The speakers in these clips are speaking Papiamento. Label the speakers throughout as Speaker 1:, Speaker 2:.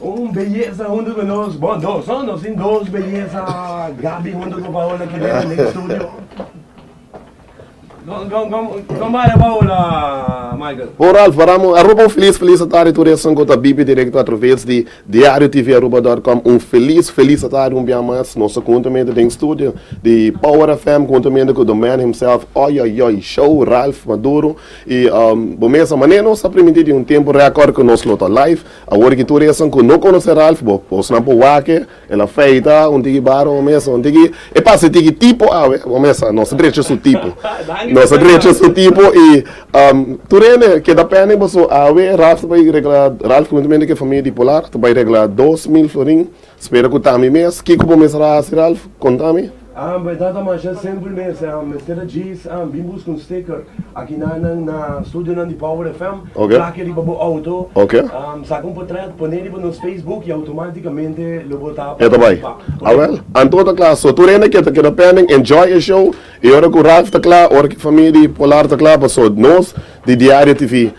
Speaker 1: Un beyesa huntu ku nos, bo dos no, nos tin dos beyesa Gabi huntu ku Paola ki bini den studio. Kom kom kom kom bai Paola Michael. Bo Ralph Baramo Aruba un felis felis atari tur esun ku ta bibi direkto atraves di DiarioTVAruba.com un felis felis atari un bia mas nos ta kunta mende den studio di Power FM kunta mende ku the man himself oyoyoy show Ralph Maduro. I bo mesa manera nos a primintí di un tempu rékòrt ku nos lo ta live. Awor ki tur esan ku no konosé Ralph bo osnan por wak-e. El a feita un tiki barba bo mesa, un tiki. E pasa tiki tipo awe bo mesa. Nos a drecha su tipo. Nos a drecha su tipo i tur hende keda pèndic paso awe Ralph ta bai regla, Ralph huntumente ku e famia di Polar ta bai regla dos mil florin. Spera ku tambe mes. Kiko bo mester a hasi Ralph? Konta mi. Ambe e tata masha simpel mester, a mester a djis, a bin buska un sticker aki na nan na studionan di Power FM, plake riba bo auto, a saka un potret pone riba nos Facebook y automaticamente lo bo ta participa. Awel, anto ta kla, so tur hende ke ta keda pending enjoy e show y ora ku Ralph ta kla, ora ki famia di Polar ta kla, paso nos di Diario TV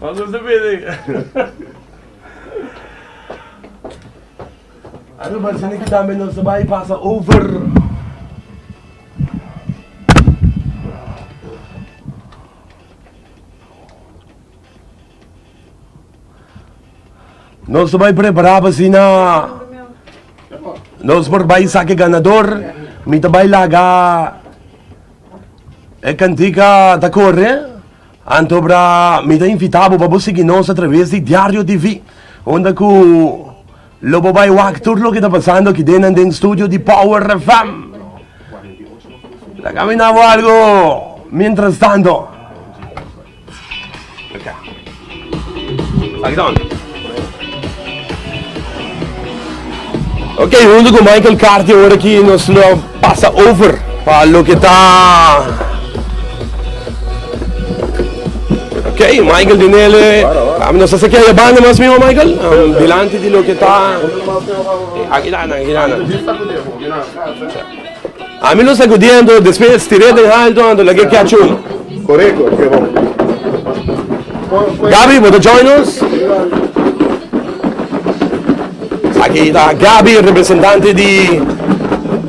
Speaker 1: Vamos a ver. Anu parse mi ki tambe nos ta bai pasa over. Nos ta bai prepara pa sina nos por bai saki ganador. Mi ta bai laga E cantica ta corre, anto bra mi ta invita bo pa bo sigui nos a traves di Diario TV, unda cu lo bo bai wak tur loke ta pasando aki den nan den studio di Power FM. Ta caminando algo mientras tanto. Ok huntu ku Michael Carti awor aki nos lo pasa over pa loke ta Ok Michael Dinele nos ta sekia e banda mas mihó Michael dilanti di loke ta aki ta nan aki ta nan. Ami lo sacudi anto, despues e stire den halto anto lag'e kia chuma. Correcto, ke bon. Gabi, bo ta join nos? Esaki ta Gabi, representante di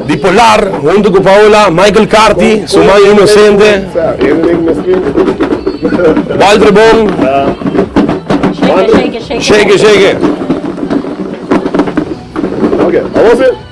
Speaker 1: di Polar, hunto ku Paola, Michael Carti, su man inosente. Walter Bon. Shake, shake, shake. Shake, shake. Okay, awose.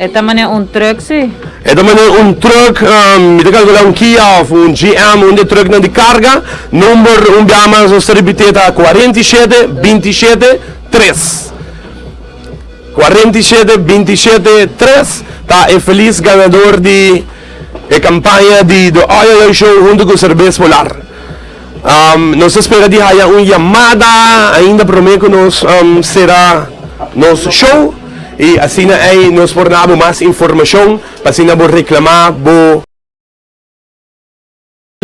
Speaker 1: E ta manera un truck si. E ta manera un truck, mi ta calcula un Kia of un GM, un di e trucknan di carga. Number un biaha mas nos ta repite ta cuarenta y siete, binti y siete, tres. Cuarenta y siete, binti y siete, tres ta e feliz ganador di e campaña di The Oi Oi Oi Show hunto cu Cerbes Polar. Um, nos ta spera di haya un yamada ainda promé ku nos um, sera nos show. I asina ei nos por na bo mas informashon pa asina bo reklamá bo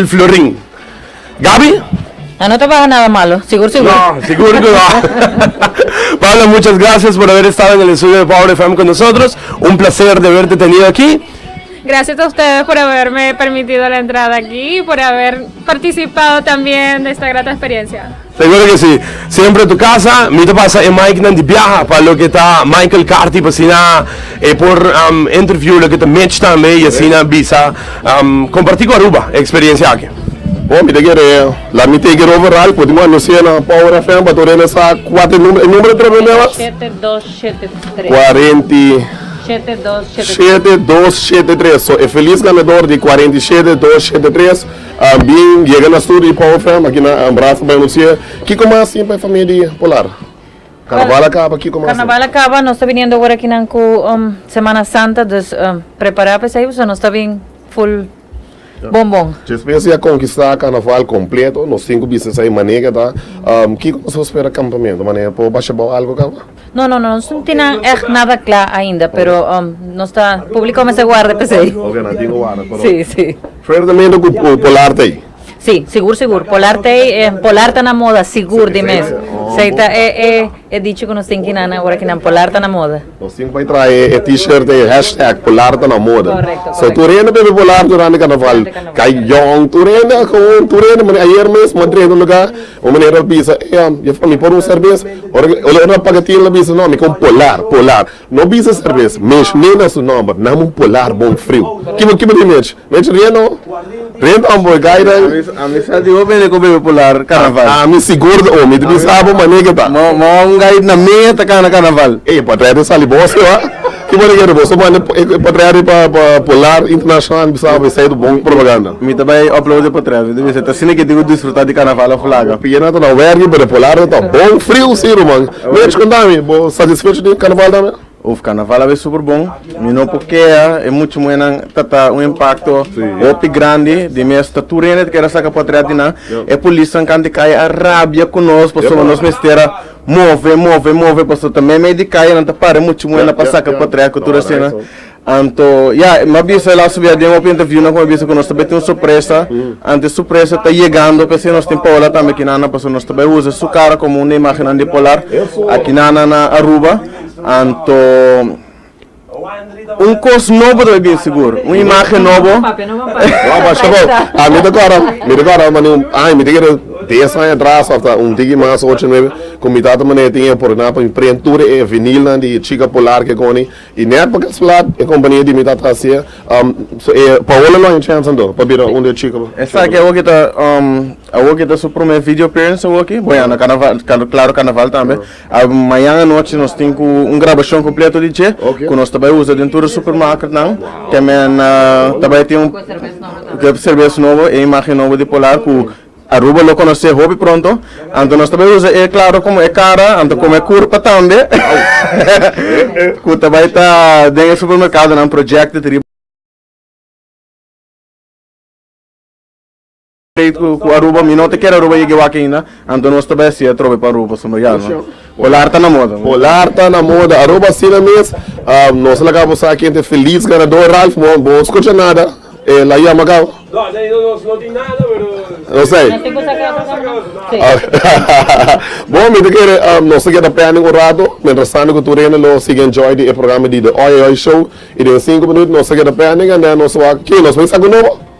Speaker 1: Florin. Gabi? Ah, no trabaja nada malo, seguro, seguro. No, seguro que no. Paula, muchas gracias por haber estado en el estudio de Power FM con nosotros. Un placer de haberte tenido aquí. Gracias a ustedes por haberme permitido la entrada aquí, por haber Participá o también ta esta grata experiencia? Seguro ke si. Siempre tu casa. Mi ta pasa e mic nan di biaha pa loke ta Michael Carthy pa asina e por interview loke ta Mitch tambe y asina bisa comparti cu Aruba e experiencia aki. Bo mi ta kere laat mi take it over right. Por tin cu a no cena Power FM pa tur regresá cuate numero. E numero tres promé was? Shete dos Cuarenta y Shete dos shete tres. Shete dos shete tres. So e feliz ganador di cuarenta y shete dos shete tres a bin yega na studio di Power FM aki na Brasa pa anuncia kico mas tin pa e famia di Polar. Carnaval a caba kico mas tin. Carnaval a caba nos ta biniendo ora aki nan cu Semana Santa dus prepara pa esey pasobra nos ta bin full. Bon bon. Despues di a konkistá karnaval kompleto, nos sinku bisnis a imanega ta. Kiko nos por spera kampamentu manera por basha bou algu kaba? No no no, nos no tin nan ègt nada kla ainda, pero nos ta, públiko a mester warda p'esei. Oke, nan tin ku warda, pero. Si si. Suertemente ku Polar ta ei. Sí, sigur sigur, polar tei e polar ta na moda sigur di mes, sei ta e e e dicho ku nos tin ki nana ora ki nan polar ta na moda. Nos tin pa traha e e T-shirt ei hashtag polar ta na moda. Korekto korekto. So tur hende a biba polar durante karnaval, kai jòn, tur hende a kowon, tur hende manera ayer mes mi a drenta un lugá un manera a bisa, ey mi por un serbes, ora ora paga tin lo a bisa no mi kum polar polar. No bisa sa res mech ne na su nomber nam un polar bon friu. Kibo kibo di mech? Mech rien no. Rien ta amboy gai den. Ami sa di bo bende ku bebe polar karnaval. Ami sigur di omi ta bisa abo mane ke ta. Mo un gai na mea ta kana karnaval. E patria ta sali boso a. Kibo di kere boso manda e patria riba pa polar internashonal mi bisa abo esei ta bon propaganda. Mi ta bai oplaudi e patria mi ta bisa ta asina ke tin ku disfruta di karnaval of laga. Pienata na werki pero e polar ta bon friu si ruman. Mi a chkunda mi, bo satisfecho di e carnaval tambe? Uf, carnaval a bay super bon. Mi no por kea, e mucha muhernan ta ta un impacto hopi grandi di mi asta tur hende ta keda saca patriat di nan. E polisnan kant di caye a rabia cu nos pasobra nos mester a move, move, move pasobra ta meimei di caye nan ta para e mucha muhernan pa saca patriat cu tur asina. Anto, ya, e m'a bisa el asobiá den hopi interviewnan ku m'a bisa ku nos ta bai tin un sorpresa. Anto e sorpresa ta yegando, p'esei nos tin Paola tambe aki nan nan, pasobra nos ta bai usa su kara komo un di e imágennan di Polar aki nan nan na Aruba. Anto, un kos nobo ta bai bini sigur, un imágen nobo. No, pa Shabo, a mi ta kòrda, mi ta kòrda mane un aña, mi ta kere des aña atras òf ta un tiki mas, ocho, nuebe, ku mi tata mane tin e oportunidat pa mi prende tur e vinilnan di Chika Polar, kikoni. I net pa kes plat e kompania di mi ta tras'é, so e Paola lo haña chèns anto pa bira un di e chiko. Esaki awoki ta awoki ta su promé video appearance awoki, bo ya na karnaval klaro karnaval tambe. Mañan anochi nos tin ku un grabashon kompleto di dje ku nos ta bai usa den tur e supermarketnan, te men ta bai tin un serbes nobo, e imagen nobo di Polar ku. Aruba lo conoce hopi pronto, anto nos ta bai usa e claro como e cara, anto como e curpa tambe, cu ta bai ta den e supermercadonan projected riba e plate cu Aruba, mi no ta kier Aruba yega e wak ainda, anto nos ta bai haci atrobe pa Aruba, so no ya no. Polar ta na moda. Polar ta na moda. Aruba asina mes. Nos a laga bo sa ken ta e felis ganador. Ralph, bo scucha nada. El a yama gau. No, no, no, nos no tin nada, pero. Nos a. Nos tin cu saca otro cosa mas. Si. Hahahaha. Bo, mi ta kere nos ta keda pending un rato, mientrastando cu tur hende lo sigui enjoy di e programa di The Oi Oi Show. Y den e sinku minuut nos ta keda pending and then nos a wak. Ki nos a bisa algu nobo?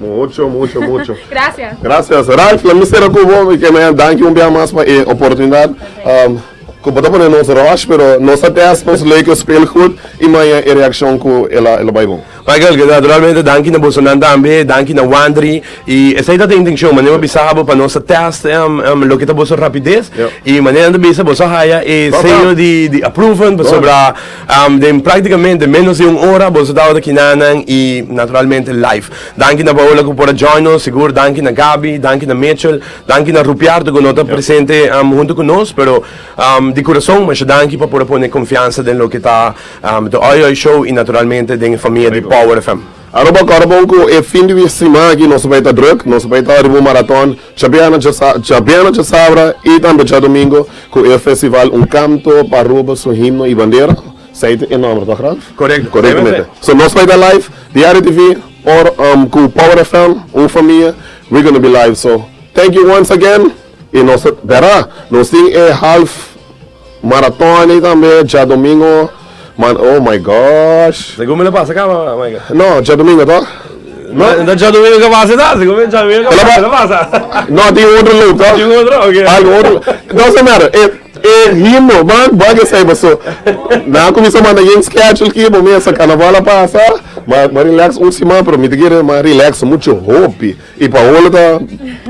Speaker 1: Mucho, mucho, mucho. Gracias. Gracias. Ralph, la mi sera cubo, mi que me danki un bia mas pa e oportunidad. Um, cu bota pone nos rush, pero nos a test, nos leuke speel goed, y maya e reaccion cu el a, el a bai bon. Michael, que naturalmente danki na bosonan tambe, danki na Wandri, y esey ta ta intencion, mane bo bisa abo pa nos a test um, um, loke ta boso rapidez, Yep. y mane nan ta bisa boso haya e Top, sello Ralph. di, di approven, Done. pasobra Den práktikamente ménos di un ora boso tabata kinanan i naturalmente live. Danki na Paola ku por a join nos, sigur danki na Gabi, danki na Mitchell, danki na Rupiardo ku no ta presente huntu ku nos, pero di kurason masha danki pa por a pone konfiansa den loke ta The Oi Oi Show i naturalmente den e famia di Power FM. Aroba kòrda bon ku e fin di siman aki nos ta bai ta drùk, nos ta bai ta riba un maratòn. Djabiana Djabiana Djasabra y tambe Djadomingo cu e festival Un Canto pa Aruba su himno y bandera, esey ta e nomber toch Ralph? Correcto, esey mesmo ta. So nos lo a ta live diario TV or cu Power FM, Un Famia, we gonna be live so thank you once again y nos ta, Vera, nos tin e half. Maratoni tambe djadomingo man oh my gosh. Segun mi lo pasa caba Michael. No djadomingo to. No. No ta djadomingo ca pasa ita segun mi djadomingo ca pasa lo pasa. No tin otro loop to. Tin otro ok. Algo otro doesn't matter e e himno man bag esai paso nan a cuminsa manda yen schedule ki bo mesa carnaval a pasa ma ma relax un siman pero mi ta kere ma relax mucho hopi. I pa hola ta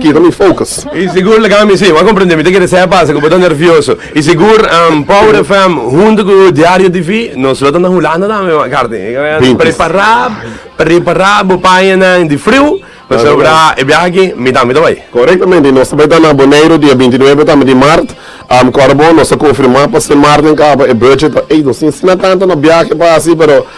Speaker 1: kita mi focus. I sigur la gami si, bo a comprende mi ta kere sa e pasa ku bo ta nervioso. I sigur Power FM huntu ku Diario TV nos lo ta na Hulanda tambe McCarthy. Prepará, prepará bo pañanan di friu pasobra e biaha aki mi tambe ta bai. Korektamente, nos ta bai ta na Boneiru dia binti nuebe tambe di mart. Kòrda bo, nos a konfirmá pa semana den kaba e budget pa ei nos tin asina tantu no biaha ke pa hasi pero.